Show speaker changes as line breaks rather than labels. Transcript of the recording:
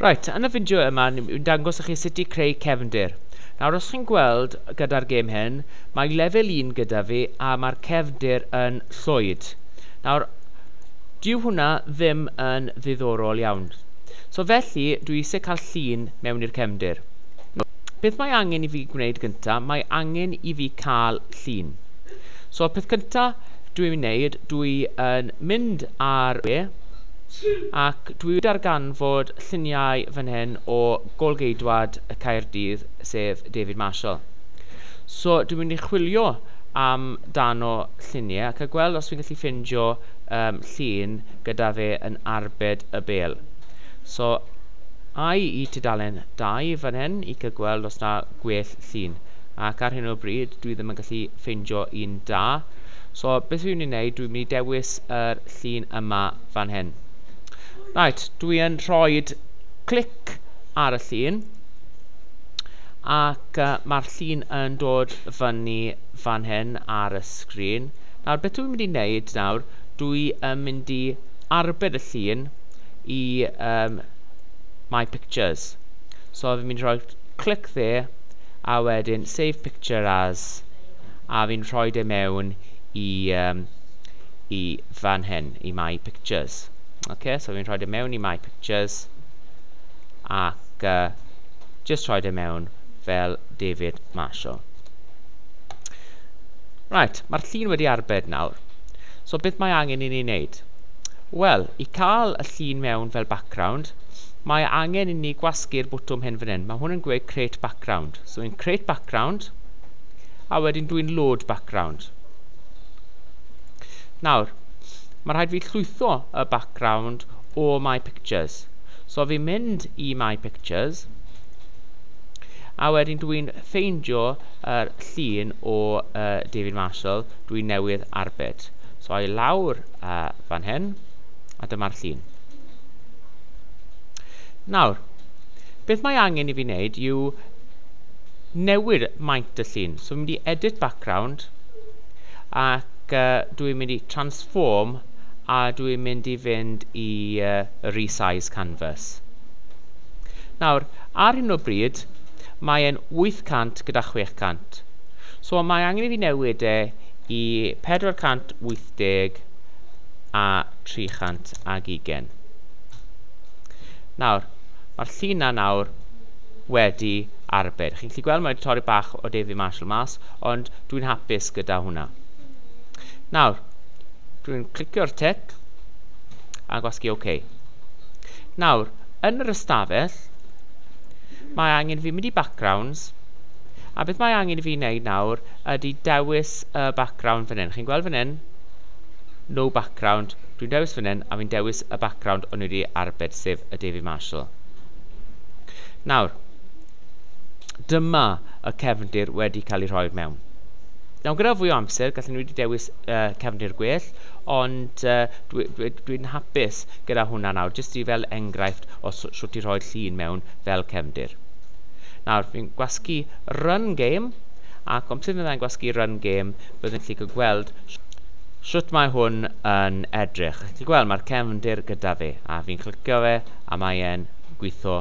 Reit, yn y fideo yma ni'n dangos i chi sut i creu cefndir. Nawr os chi'n gweld gyda'r gêm hyn, mae lefel 1 gyda fi a mae'r cefndir yn llwyd. Nawr, dyw hwnna ddim yn ddiddorol iawn. So felly, dwi eisiau cael llun mewn i'r cefndir. Beth mae angen i fi gwneud gyntaf, mae angen i fi cael llun. So peth cyntaf dwi'n wneud, dwi yn mynd ar e ac ac dwi wedi darganfod lluniau fan hyn o gôl-geidwad y Caerdydd, sef David Marshall. So dwi'n mynd i chwilio am dan o lluniau ac a gweld os fi'n gallu ffindio um, llun gyda fe yn arbed y bel. So ai i tudalen 2 fan hyn i cael gweld os na gwell llun. Ac ar hyn o bryd dwi ddim yn gallu ffeindio un da. So beth dwi'n mynd i wneud, dwi'n mynd i dewis yr llun yma fan hyn. Right, dwi yn rhoi clic ar y llun ac uh, mae'r llun yn dod fyny fan hyn ar y sgrin. Nawr, beth dwi'n mynd i wneud nawr, dwi yn mynd i arbed y llun i um, My Pictures. So, fi'n mynd i rhoi clic dde, a wedyn Save Picture As, a fi'n rhoi e mewn i, um, i fan hyn. i My Pictures. Ok, so fi'n rhoi e mewn i My Pictures ac uh, just rhoi e mewn fel David Marshall. Right, mae'r llun wedi arbed nawr. So beth mae angen i ni wneud? Wel, i cael y llun mewn fel background, mae angen i ni gwasgu'r bwtwm hyn fan hyn. Mae hwn yn gweud create background. So yn create background, a wedyn dwi'n load background. Nawr, Mae'n rhaid fi llwytho y background o My Pictures. So fi'n mynd i My Pictures, a wedyn dwi'n ffeindio yr llun o uh, David Marshall dwi'n newydd arbed. So i lawr uh, fan hyn, a dyma'r llun. Nawr, beth mae angen i fi wneud yw newid maint y llun. So fi'n mynd i edit background, ac ac dw i'n mynd i transform a dw i'n mynd i fynd i resize canvas. Nawr, ar hyn o bryd, mae e'n 800 gyda 600. So mae angen i fi newid e i 480 a 320. Nawr, mae'r llun na nawr wedi arbed. Chi'n gallu gweld mae wedi torri bach o David Marshall mas, Ond dwi'n hapus gyda hwnna. Nawr, dwi'n clicio'r tic a gwasgu OK. Nawr, yn yr ystafell, mae angen fi mynd i backgrounds, a beth mae angen fi wneud nawr ydy dewis y background fan hyn. Chi'n gweld fan hyn? No background. Dwi'n dewis fan hyn a fi'n dewis y background o'n i wedi arbed, sef y David Marshall. Nawr, Dyma y cefndir wedi cael ei rhoi mewn. Nawr gyda fwy o amser, gallen ni wedi dewis uh, cefndir gwell, ond uh, dwi'n dwi, dwi hapus gyda hwnna nawr, jyst i fel enghraifft o sut i rhoi llun mewn fel cefndir. Nawr, fi'n gwasgu run game, ac ond sydd yn gwasgu run game, byddwn chi'n gallu gweld sut mae hwn yn edrych. Chi'n gweld, mae'r cefndir gyda fi, a fi'n clicio fe, a mae'n gweithio